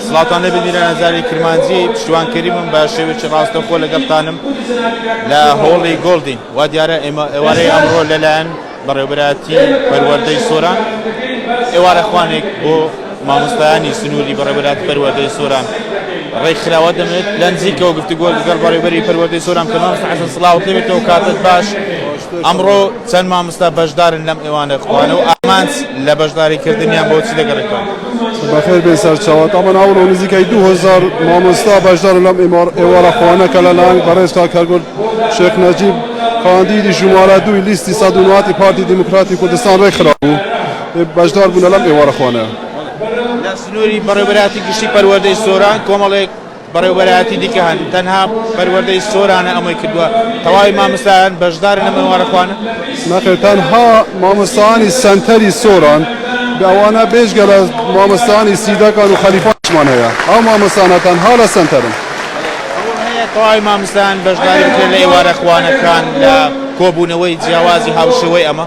سڵاتان لێ ببیرە نەزاری کرمانجی پشتوان کەریمم بە شێوێکی ڕاستەخۆ لەگەڵتانم لە هۆڵی گۆڵدین وا دیارە ئێمە ئێوارەی ئەمڕۆ لەلایەن بەڕێوبەتی پەروەردەی سۆران ئێوارە خوانێک بۆ مامۆستایانی سنووری بەڕێبەرات پەروەردەی سۆران ڕێکخراوە دەمێت لە نزیکەوە گفتوگۆ لەگەڵ بەڕێبەری پەروەردەی سۆران کە مامۆستا حەسەن سڵاو لێبێتەوە کاتت باش ئەمڕۆ چەند مامۆستا بەشدارن لەم ئێوانە خوانە و ئامانج لە بەشداریکردنیان بۆچی دەگەڕێتەوە بەخێر بێن سەرچاوت ئەمن ئەوڵ و نزیکای دو هزار مامۆستا بەشدار لەم ئێوارە خوانەکە لە لایەن بەڕێز کاکەگول شێخ نەجیب کاندیدی ژمارە دووی لیستی سەد و نۆ پارتی دیموکراتی کوردستان ڕێکخرا بوو بەشدار بوونە لەم ئێوارە خوانە لە سنووری بەڕێوەبەرایەتی گشتی پەروەردەی سۆران کۆمەڵێک بەڕێوەبەرایەتی دیکە هەن تەنها پەروەردەی سۆرانە ئەمەی کردوە تەواوی ماموستایان بەشدارن لەم ئێوارە خوانە. نەخێر تەنها مامۆستایانی سەنتەری سۆران ئەوانە بێجگە لە مامۆستایانی سیدەکان و خەلیفانیشمان هەیە ئەو مامۆستانە تەنها لە سەنتەرن. هەوڵ هەیە تەواوی ماموستایان بەشداری بکرێت لە ئێوارە خوانەکان لە کۆبونەوەی جیاوازی هاوشێوەی ئەمە.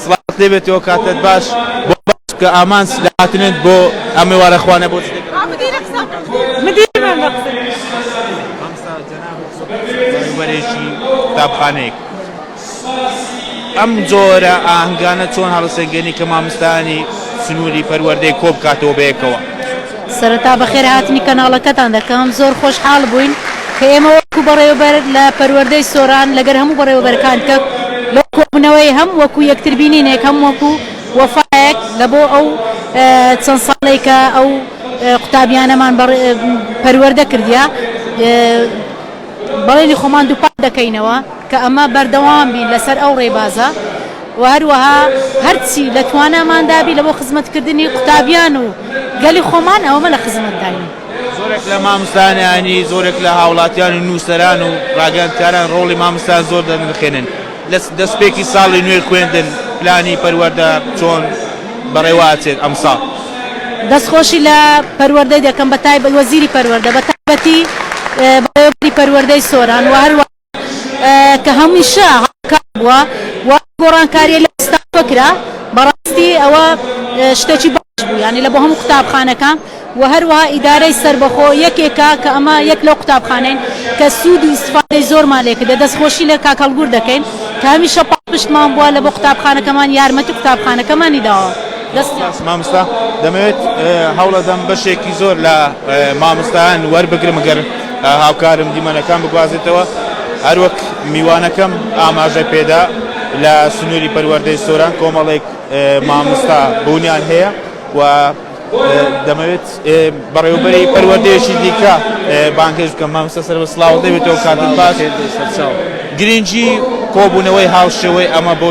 سڵاوت لێ بێت و کاتت باش بۆ بەخش بکە ئامانج لە هاتنت بۆ ئەم ئێوارە خوانە بۆ چ دەکەی؟ مامۆستا جەناب بەڕێوبەرێکی قوتابخانەیەک ئەم جۆرە ئاهنگانە چۆن هەڵەسەنگێنی کە مامۆستایانی سنوری پەروەردەی کۆ بکاتەوە بەیەکەوە؟ سەرەتا بەخێر هاتنی کەناڵەکەتان دەکەم، زۆر خۆشحاڵ بووین کە ئێمە وەکو بەڕێوەبەر لە پەروەردەی سۆران لەگەر هەموو بەڕێوەبەرەکان دیکە لەو کۆبوونەوەی هەم وەکو یەکتر بینینێک هەم وەکو وەفایەک لە بۆ ئەو چەند ساڵەی کە ئەو قوتابیانەمان پەروەردە کردیە بەڵێنی خۆمان دووپات دەکەینەوە کە ئەمە بەردەوام بین لەسەر ئەو ڕێبازە. و هەروەها هەرچی لە تواناماندا بی لە بۆ خزمەتکردنی قوتابیان و گەلی خۆمان ئەوەمە لە خزمەتداین. زۆرێک لە ماموستایان یانی زۆرێک لە هاوڵاتیان و نووسەران و ڕاگەیاندکاران ڕۆڵی ماموستایان زۆر دەنرخێنن لە دەسپێکی ساڵی نوێی خوێندن پلانی پەروەردە چۆن بەڕێوە ئەچێت ئەمساڵ؟ دەستخۆشی لە پەروەردەی دەکەم بەتایبەت وەزیری پەروەردە بەتایبەتی بەڕێوەبەری پەروەردەی سۆران و هەروەها. کە هەمیشە هاوکار بووە و ئەو گۆڕانکارییە لە ئێستاوە کرا، بەڕاستی ئەوە شتێکی باش بوو، یانی لە بۆ هەموو قوتابخانەکان و هەروەها ئیدارەی سەربەخۆ یەکێکە کە ئەمە یەک لەو قوتابخانەین کە سوود و ئیستفادەی زۆرمان لێ کردە، دەستخۆشی لە کاک هەڵگور دەکەین کە هەمیشە پاڵپشتمان بووە، لە بۆ قوتابخانەکەمان یارمەتی قوتابخانەکەمانی داوە. دەستتان. سپاس ماموستا، دەمەوێت هەوڵەدەم بەشێکی زۆر لە ماموستایان وەربگرم گەر. هاوکارم دیمەنەکان بگوازێتەوە، هەروەک میوانەکەم ئاماژەی پێدا، لە سنووری پەروەردەی سۆران کۆمەڵێک مامۆستا بوونیان هەیە و دەمەوێت بەڕێوەبەری پەروەردەیەکی دیکە بانگهێشت بکەم، مامۆستا سەربەست سڵاوت نەبێتەوە کاتت باش، گرنگی کۆبوونەوەی هاوشێوەی ئەمە بۆ.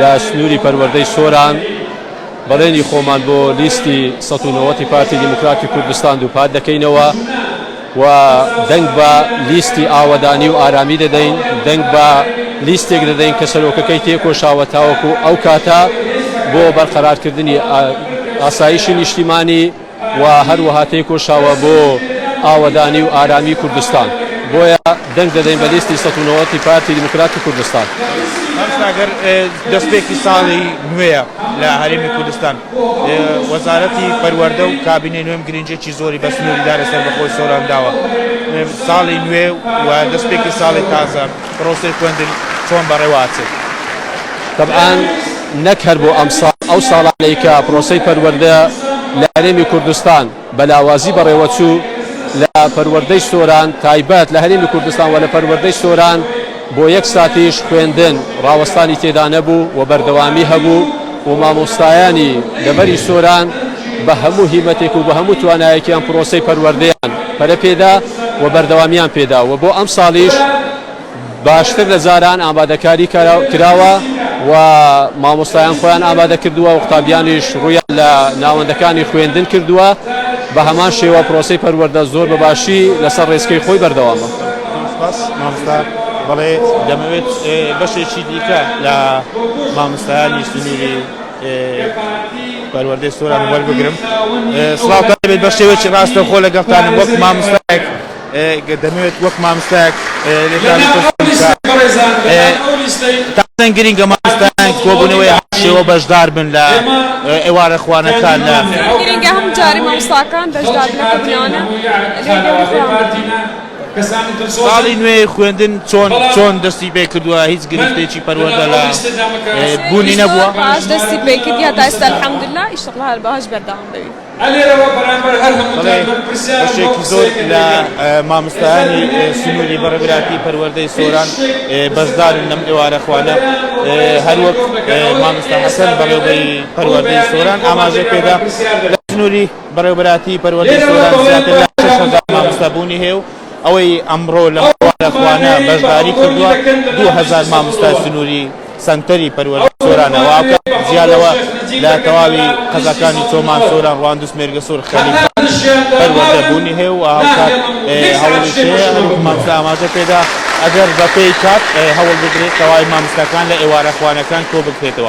لە سنووری پەروەردەی سۆران بەڵێنی خۆمان بۆ لیستی سەد و نەوەد ی پارتی دیموکراتی کوردستان دووپات دەکەینەوە و دەنگ بە لیستی ئاوەدانی و ئارامی دەدەین، دەنگ بە لیستێک دەدەین کە سەرۆکەکەی تێکۆشاوە تاوەکو ئەو کاتە بۆ بەرقەرارکردنی ئاسایشی نیشتیمانی. و هەروەها تێکۆشاوە بۆ ئاوەدانی و ئارامی کوردستان، بۆیە دەنگ دەدەین بە لیستی سەد و نەوەد ی پارتی دیموکراتی کوردستان. مام ساغر، دەستپێکی ساڵی نوێیە لە هەرێمی کوردستان، وەزارەتی پەروەردە و کابینەی نوێم گرنگییەکی زۆری بە سنووری دارێ سەربەخۆی سۆران داوە، ساڵی نوێ و دەستپێکی ساڵی تازە، پرۆسەی خوێندن چۆن بەڕێوە ئەچێت؟ تەبعەن نەک هەر بۆ ئەمساڵ، ئەو ساڵانەی کە پرۆسەی پەروەردە لە هەرێمی کوردستان بە لاوازی بەڕێوە چوو، لە پەروەردەی سۆران تایبەت لە هەرێمی کوردستان و لە پەروەردەی سۆران بۆ یەک ساتیش خوێندن ڕاوەستانی تێدا نەبوو و بەردەوامی هەبوو و مامۆستایانی دەڤەری سۆران بە هەموو هیمەتێک و بە هەموو توانایەکیان پرۆسەی پەروەردەیان پەرە پێدا. و بەردەوامیان پێدا و بۆ ئەمساڵیش باشتر لە جاران ئامادەکاری کراوە و مامۆستایان خۆیان ئامادە کردووە و قوتابیانیش ڕوویان لە ناوەندەکانی خوێندن کردووە بە هەمان شێوە پرۆسەی پەروەردە زۆر بە باشی لەسەر ڕێچکەی خۆی بەردەوامە. سپاس مامۆستا بەڵێ دەمەوێت بەشێکی دیکە لە مامۆستایانی سنووری پەروەردەی سۆران وەربگرم سڵاو دەبێت بە شێوەیەکی ڕاستە خۆ لەگەڵتانم وەک مامۆستایەک دەمەوێت وەک مامۆستایەک تازەن گرنگە مامۆستایان کۆبوونەوەی شێوە بەشدار بن لە ئێوارە خوانەکان لە گرنگە هەموو جارێ مامۆستاکان بەشدار بن لە کۆبوونەوانە ساڵی نوێی خوێندن چۆن چۆن دەستی پێ کردووە هیچ گرفتێکی پەروەردە لە بوونی نەبووە باش دەستی پێ کردی هەتا ئێستا الحمدللە ئیشەڵڵا هەر بەهەش بەردەوام بەوی بەشێکی زۆر لە مامستانی سنووری بەڕێبراتی پەروەردەی سۆران بەشدارن لەم ئێوارە خوانە هەروەک مامستا حەسەن بەڕێوبەری پەروەردەی سۆران ئاماژە پێدا لە سنووری بەڕێوەبەرایەتی پەروەردەی سۆران زیاتر لە شەش هەزار مامۆستا بوونی هەیە و ئەوەی ئەمڕۆ لەم قوتابخانە بەشداری کردووە دوو هەزار مامۆستای سنووری سەنتەری پەروەردەی سۆرانە و ئاکا جیا لەوە لە تەواوی قەزاکانی چۆمان، سۆران، ڕواندز، مێرگەسۆر، خەلیفە پەروەردە بوونی هەیە و هاوکات هەوڵیش هەیە هەروەک مامۆستا ئاماژە پێدا ئەگەر بەپێی کات هەوڵ بدرێت تەواوی مامۆستاکان لە ئێوارەخوانەکان کۆبکرێتەوە.